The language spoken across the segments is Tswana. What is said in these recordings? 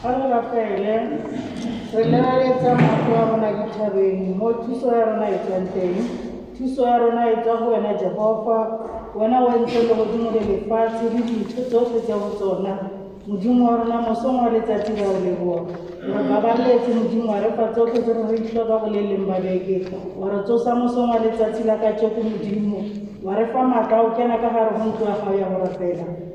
Fa re rapele, re lebeletsa maoto a rona dithabeng mo thuso ya rona e tswang teng. Thuso ya rona e tswa go wena Jehofa, wena o entse legodimo le lefatshe le dintho tsotlhe tse go tsona. Modimo wa rona mosong wa letsatsi ra o leboa. Re babaletse Modimo wa re fa tsotlhe tse re re itlhoka go le leng ba beke. Wa re tsosa mosong wa letsatsi la kajeko Modimo. Wa re fa maatla o kena ka gare go ntlo ya gago ya go rapela.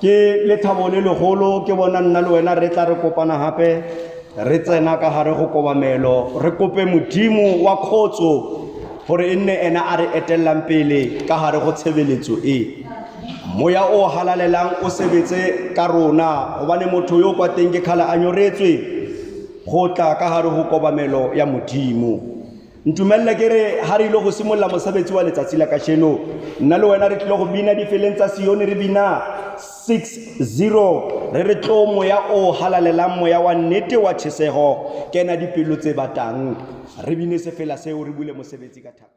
ke lethabo le legolo ke bona nna le wena re tla re kopana gape re tsena ka gare go kobamelo re kope modimo wa kgotso gore e nne ena a re etelelang pele ka gare go tshebeletso e moya o halalelang o sebetse ka rona gobane motho yo o kwa teng ke kgale a nyoretswe go tla ka gare go kobamelo ya modimo ntumelele ke re ha re ile go simolola mosebetsi wa letsatsi la kasheno nna le wena re tlile go bina difeleng tsa sione re bina 60 re re tlo moya o halalelang moya wa nnete wa tšhesego kena dipelo tse batang re bine sefela seo re bule mosebetsi ka thapelo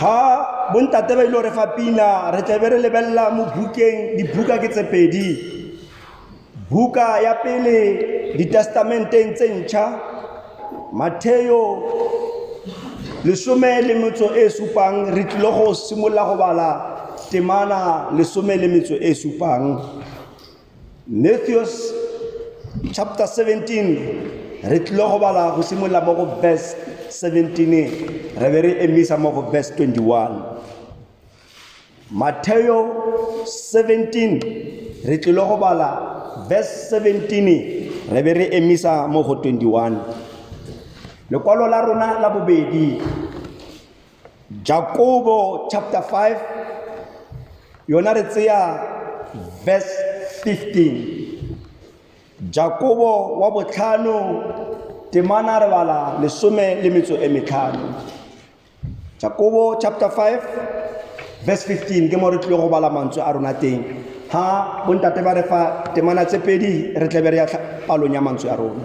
ga bontate ba ile gore fa pina re tlabe re lebelela mo bukeng dibuka ke tse pedi buka ya pele ditestamenteng tse ntšha matheo lesome le metso e supang re tlile go simolola go bala temana lesome le metso e supang Matthews chapter 17 re tlile go bala go simolola mo go verse 17 re be re emisa mo go verse 21 Mateo 17 re tlile go bala verse 17 re be re emisa mo go 21 lekwalo la rona la bobedi Jakobo chapter 5 yona re tseya verse 15 Jakobo wa botlhano temana re bala lesome le metso e metlhano Jakobo chapter 5 verse 15 ke mo re tlile go bala mantswe a rona teng ha bontate ba re fa temana tse pedi re tlebe re ya palong ya mantswe a rona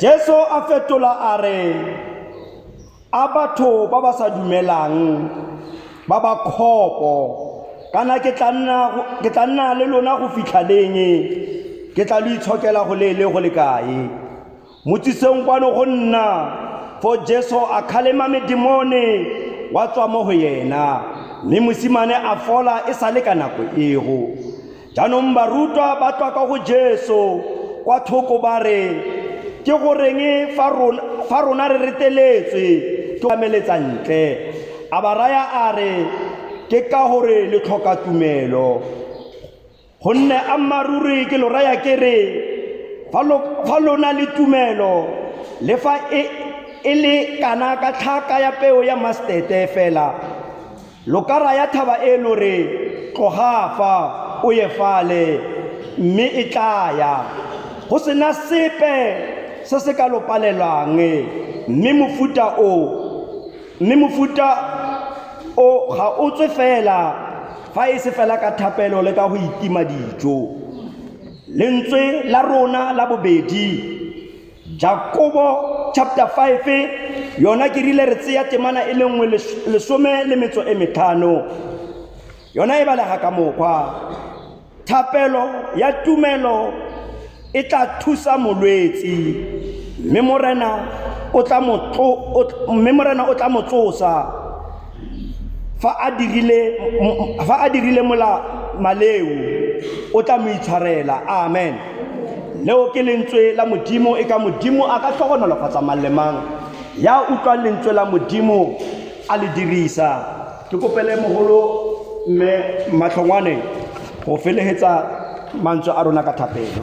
Jesu a fetola a re a batho ba ba sa dumelang ba ba kgopo kana ke tla nna ke tla nna le lona go fitlha leng ke tla lo itshokela go lele go le kae motsiseng kwano go nna fo Jesu a khalema medimone wa tswa mo go yena mme mosimane a fola e sale ka nako ego Jaanong barutwa ba tswa ka go Jesu kwa thoko ba re, Ke goreng fa rona, fa rona re reteletswe ke ameletsa ntle? A ba raya a re, Ke ka gore le tlhoka tumelo. Gonne a mmaruri ke lo raya ke re, fa lo, fa lo na le tumelo, le fa e, e le kana ka tlhaka ya peo ya mastete fela, Lo ka raya thaba e lo re, Tloga fa, o ye fale, mme e tla ya. Go se na sepe se se ka lo palelang. Mme mofuta o, mme mofuta o ga o tswe fela fa e se fela ka thapelo le ka go itima dijo. Lentswe la rona la bobedi. Jakobo chapter 5 yona ke rile re tseya temana e le nngwe lesome le metso e metlhano yona e balega ka mokgwa thapelo ya tumelo e tla thusa molwetsi mme morena o tla mo tsosa fa a dirile mola maleo o tla mo itshwarela amen leo ke lentswe la modimo e ka modimo a ka tlhogonolofatsa mang le mang ya utlwang lentswe la modimo a le dirisa ke kopele mogolo mme matlhongwane go felegetsa mantswe a rona ka thapelo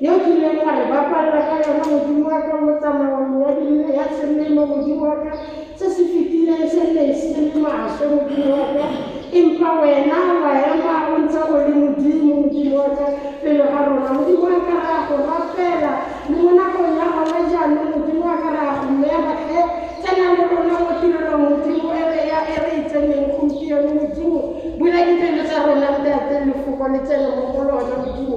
Yo o kileng ga e bapalela ka yona Modimo wa ka mo tsamaong ya dinne ya selemo, Modimo wa ka, se se fetileng se nne e se le maswe, Modimo wa ka, empa wena wa ema o ntse o le Modimo, Modimo wa ka, pele ga rona. Modimo wa ka, re a go rapela le mo nakong ya gona jaanong, Modimo wa ka, re a go mema tlhe tsena le rona mo tirelong, Modimo, e re ya e re e tseneng gompieno, Modimo, bula dipelo tsa rona, Ntate, lefoko le tsene mo go lona, Modimo.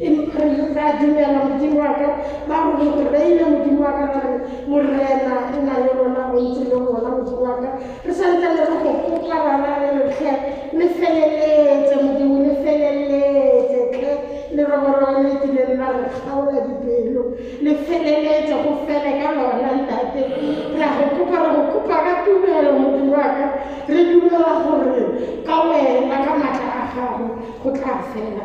Increase ra dumela modimo wa ka ba go go reile modimo wa ka gore morena o na le rona o ntse le rona modimo wa ka re santse le re go kopa bana re lotlhe le feleletse modimo le feleletse tle le roborobo le kileng la re kgaola dipelo le feleletse go fele ka lona ntate ra go kopa re go kopa ka tumelo modimo wa ka re dumela gore ka wena ka maatla a gago go tla fela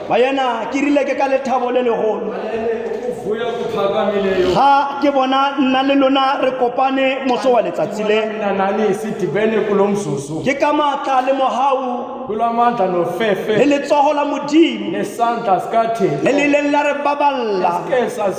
bayena ke rile ke ka lethabo le legolo ga ke bona nna le lona re kopane moso wa letsatsi le ke ka maatla le mogau le letsogo la modimo le le ileng la re baballa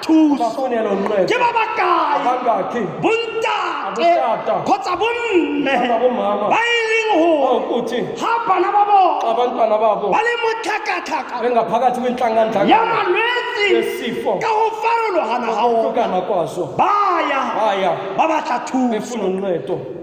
thuso ke ba ba kae bontate kgotsa bomme ba e leng gore ga bana ba bone ba le mo tlhakatlhaka ya malwetse ka go farologana ga ona ba ya ba batla thuso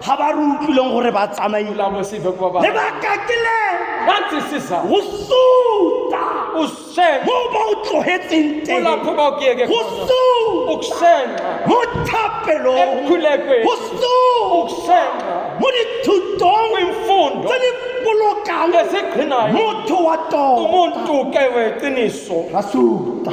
ga ba re utlwileng gore ba tsamaile lebaka ke le go suta mo ba o tlogetseng teng go suta mo thapelong go suta mo dithutong tse di bolokang motho wa tota ra suta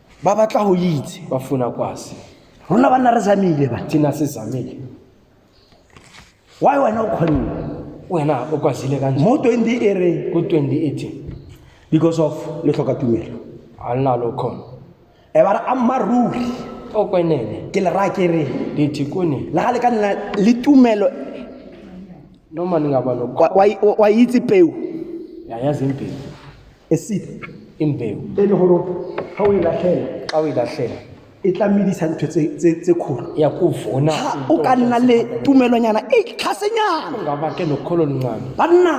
ba batla go itse ba fona kwase rona ba nna re zamile ba ke na se zamile why wena o kgonne wena o kwazile ka mo twenty e re ko twenty eighteen because of le tlhoka tumelo a lena lo kgona e ba re ammaruri o kwenene ke le raya ke re dithi kone le ga le ka nna le tumelo no mane nga balo kwa itse peo ya ya zempele a seed ke mpeo e le gore ga o e latlhela ga o e latlhela e tla medisa ntho tse- tse tse kgolo ya kuvuna Ha, o ka nna le tumelonyana e tlhasenyana ungaba ke nokholo oluncane banna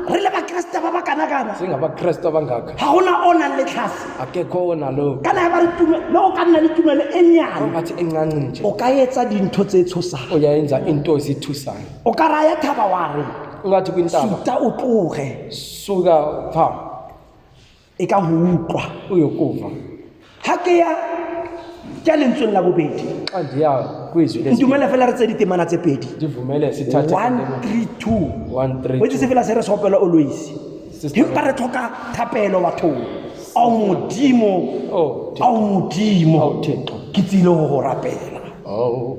re le bakeresete ba ba kanakana singabakristu abangaka ga gona o nang le tlhase akekho onalo kana ya ba re tume le o ka nna le tumelo e nyane ongathi encanci nje o ka etsa dintho tse tshosang uyayenza into ezithusayo o ka raya thaba wa re ungathi kwintaba suta o tloge so ka fa e ka go utlwa o yo kofa ga ke ya ke a lentsweng la bobedi xa ndiya kwizwi lesi- ntumele fela re tse ditemana tse pedi ndivumele sithathe one three two One, three, wetse se fela se re sopela oloisi Sister- empa re tlhoka thapelo bathong ao modimo Oh, Thixo. ao modimo Ao, Thixo. ke tsile go go rapela Oh,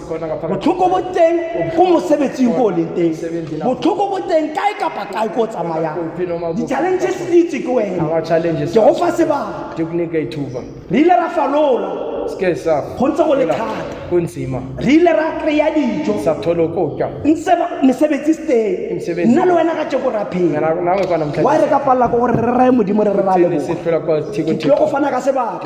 botlhoko bo teng ko mosebetsing ko o leng teng botlhoko bo teng kae kapa kae ko o tsamayang di-challenges di itse ke wene ke go fa sebaka re ile ra falola go ntse go le thata re ile ra kry-a dijo ntse mesebetsi seteng nna le wena ka tšeko ra phela wa re ka palela ko gore re raye modimo re re ra leboga ke tlile go fana ka sebaka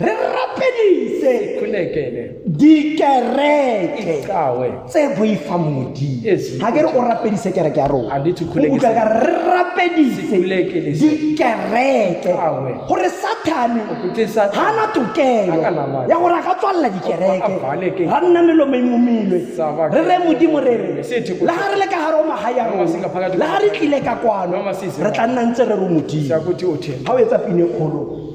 re rapedise dikereke tse boifang modimo ga ke re o rapedise kereke ya rona utlwa ka re rapedise dikereke gore sathane ga na tokelo ya gore a ka tswalela dikereke ga nna melomo e momilwe re re modimo re re le ga re le ka gare o maga ya rona le ga re tlile ka kwano re tla nna ntse re re modimo ga o etsa pine kgolo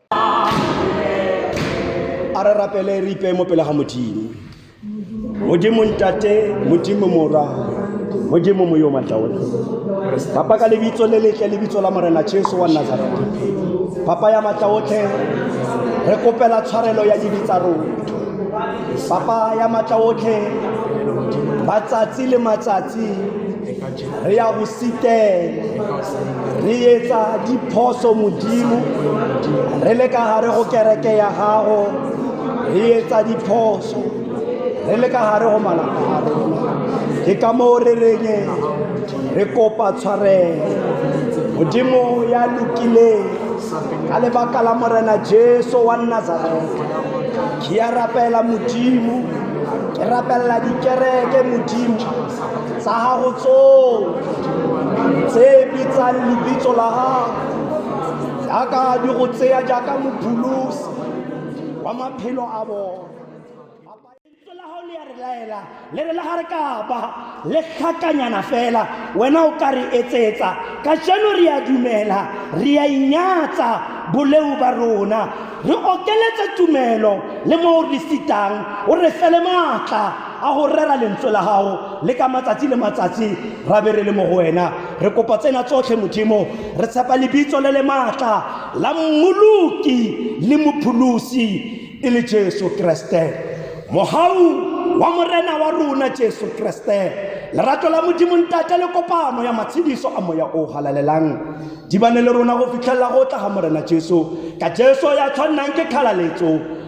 a re rapele re ipeye mo pele ga modimo modimo ntate modimo mora modimo mo yo matla otlhe papa ka lebitso le letle lebitso la morena jesu wa nazareta papa ya matla otlhe re kopela tshwarelo ya dibi tsa rona papa ya matla otlhe matsatsi le matsatsi re ya bositele re etsa diphoso modimo re le ka gare go kereke ya gago re etsa diphoso re le ka gare go malapa a rona ke ka moo re reng re kopa tshwarelo modimo ya lokileng ka lebaka la morena jesu wa nazareta ke ya rapela modimo ke rapelela dikereke modimo tsa gago tsotlhe tse bitsang lebitso la gago jaaka di go tseya jaaka mopholosi wa maphelo a bone laela le re la ga re kapa le tlhakanyana fela wena o ka re etsetsa ka jeno re a dumela re a inyatsa boleu ba rona re okeletse tumelo le mo o re sitang o re fele maatla a go rera lentswe la gago le ka matsatsi le matsatsi ra be re le mo go wena re kopa tsena tsotlhe modimo re tshepa lebitso le le maatla la mmoloki le mopholosi e le jesu kreste mogau wa morena wa rona jesu kreste lerato la modimo ntate le kopano ya matshediso a moya o galalelang di bane le rona go fitlhelela go tla ga morena jesu ka jesu ya tshwannang ke kgalaletso